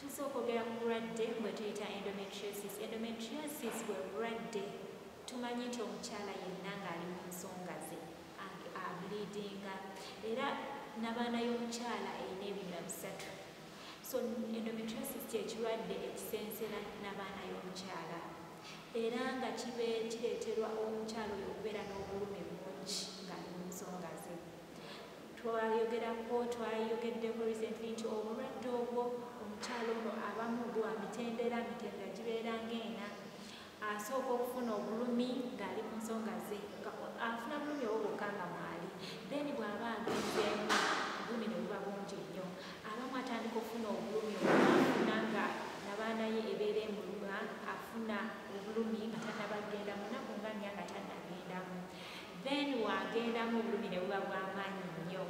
tusa okwogera ku bulwadde bwe tuyita endometriosis endometriosis bwe bulwadde tumanyi nti omukyala yenna ng'ali mu nsonga ze abulidinga era nabaana y'omukyala erina ebinga bisatu so endometriosis kyekirwadde ekisensera nabaana y'omukyala era nga kireeterwa omukyala oyo okubeera n'obulumi bungi ng'ali mu nsonga ze twayogerako twayogeddeko recently nti obulwadde obwo omukyalo ono abamu bwa mitendera mitendera gibeera ngaena asooka okufuna obulumi ng'ali mu nsonga ze afuna bulumi obwo bwokka nga mwali then bw'aba agenzeemu obulumi ne buba bungi nnyo abamu atandika okufuna obulumi obufuna nga nabaana ye ebeera emuluma afuna obulumi nga tanabagenda munaku nga nya nga tanagendamu then wagendamu obulumi ne buba bwamaanyi nnyo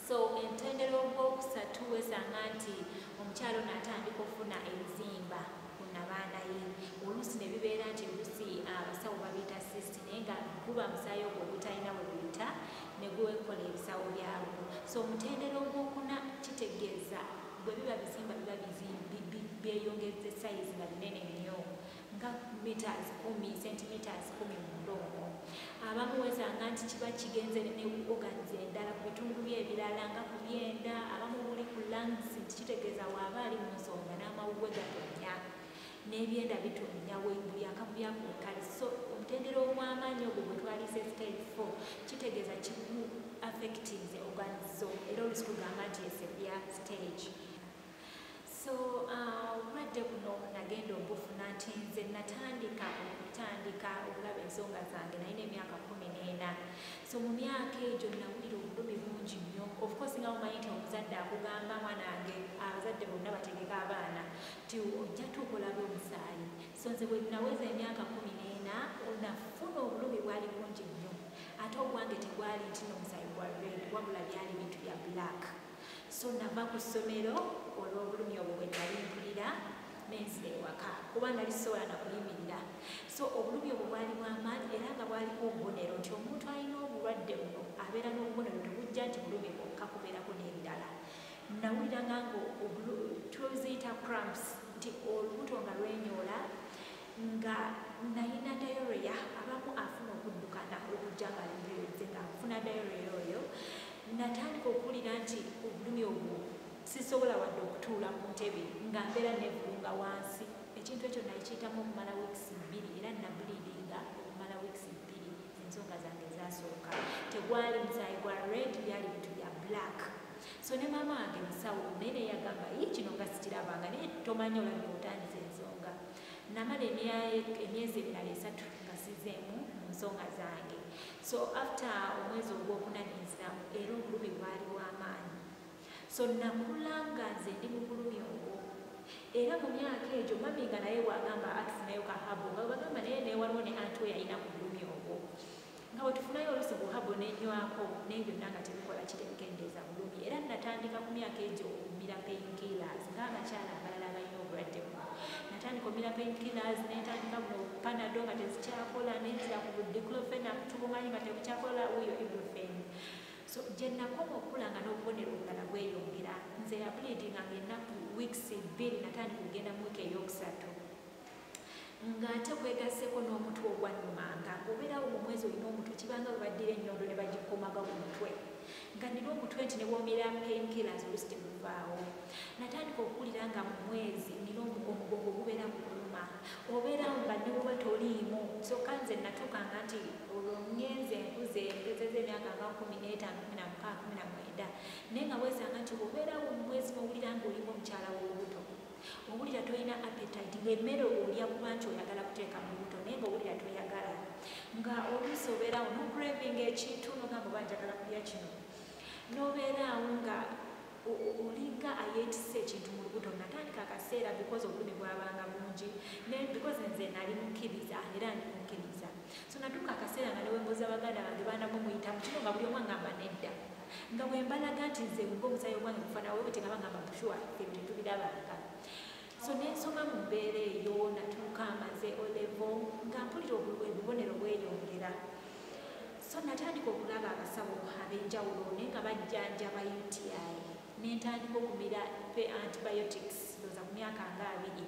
so entendera ogwokusatu wesanga nti omukyalo natandika okufuna ebizimba ku nabaana ye oluusi ne bibeera nti oluusi ah, abasawo babiyita sist naye nga guba musaayi ogwo ogutalina we buyita ne gwekola ebisawo byagwo so omutendera ogwokuna kitegeeza bwe biba bizimba biba byeyongezza sayizi nga binene nnyo nga meters kumi centimeters kumi mu ndongo abamu wezanga nti kiba kigenze ne ku organs endala ku bitundu bye ebirala nga ku byenda abamu buli ku lungs nti kitegeeza waaba ali mu nsonga n'amawuwe gatonya n'ebyenda bitonya buli akamu byakunkali so omutendera ogw'amaanyi ogwo gwe twalise stage four kitegeeza kiku affectinze organs zo era olusi kugamba nti esebya stage so uh, obulwadde uh, buno nagenda obufuna nti nze natandika okutandika okulaba ensonga zange naye n'emyaka kumi n'ena so mu myaka egyo nawulira obulumi bungi nnyo ofcourse nga omanyi nti omuzadde akugamba mwanange abazadde bonna bategeka abaana ti ojja tuukolabe omusaayi so nze bwe naweza emyaka kumi n'ena onafuna obulumi bwali bungi nnyo ate obwange tegwali nti nomusaayi gwa red wabula byali bintu bya black so nava ku ssomero olw'obulumi obwo bwe nali mpulira nenzira ewaka kuba nali sisobola na kuyimirira so obulumi obwo bwali bwamaanyi era nga bwaliko obubonero nti omuntu alina obulwadde buno abeera n'obubonero tebujja nti bulumi bwokka kubeerako n'ebirala nawuliranga nga tuziyita cramps nti olubuto nga lwenyoola nga nalina dayoroya abamu afuna okuddukana okujja nga libyonze nga nfuna dayoroya oyo natandika okuwulira nti obulumi obwo sisobola wadde okutuula ku ntebe nga mbeera nevulunga wansi ekintu ekyo nali kiyitamu okumala weeks bbiri era nabuliidinga okumala weeks bbiri ensonga zange ezasooka tegwali musayi gwa red byali bintu bya black so ne maama wange musawo naye neyagamba yi kino nga sikirabanga naye tomanya olabika otandisa ensonga namala emyezi emirala esatu nga sizeemu mu nsonga zange so after omwezi ogwokuna nenziramu era obulumi bwali bwamaanyi so nakula nga nze ndi mu bulumi obwo era mu myaka egyo mami nga naye wagamba atufunayo kahabu nga bagamba naye newaliwo ne anti weyalina ku bulumi obwo nga bwe tufunayo oluusi buhabo nenywako naye byonna nga tebikola kitebikendeeza bulumi era natandika ku myaka egyo okumira painkillers ng'abakyala abalala abalina obulwadde buno natandika omira painkillers netandika mu panado nga tezikyakola nenzira ku diclofenac tubumanyi nga tebukyakola wuyo ibufen so gye nakoma okukula nga n'obubonero obulala bweyongera nze yabuliidinga nga ennaku weeks bbiri natandika okugenda mu wiiki ey'okusatu nga ate kwegaseko n'omutwe ogwannumanga ngaobeerawo mu mwezi olina omutwe kibanga bwe baddira ennyondo ne bagikomaga ku mutwe nga nina omutwe nti ne bwomera penkilas olusi temuvaawo natandika okuwulira nga mu mwezi nina omugongo ogubeera mu kuluma obeerawo nga newuba toliimu kyokka nze natuukanga nti olwo ngenze nkuze mpezeza emyaka nga kumi n'etaano kumi na mukaaga kumi na mwenda naye nga weesanga nti obeerawo mu mwezi nowulira ngaolimu omukyala w'olubuto owulira tolina appetite ngaemmere olya kuba nti oyagala kuteeka mu lubuto naye nga owulira toyagala nga oluusi obeeraawo nocraving ekintu nogamba oba njagala kulya kino nobeeraawo nga olinga ayetisa ekintu mu lubuto natandika akaseera because obulumi bwabanga bungi because nze nali mukkiriza era ndi mukkiriza so natuuka akaseera nga newembuuza baganda bange baana mumuyitamu kino nga buli omwangamba nedda nga bwe mbalaga nti nze nga omusaayi ogwange gufana wewe tegaba ngamba bushuwa ebintu tubirabanga so nensoma mu mbeera eyo natuuka amaze olevo nga mpulira obubonero bweyongera so natandika okulaba abasawo ab'enjawulo naye nga bajjanjaba uti nentandika okumira antibiotics ndoza ku myaka nga abiri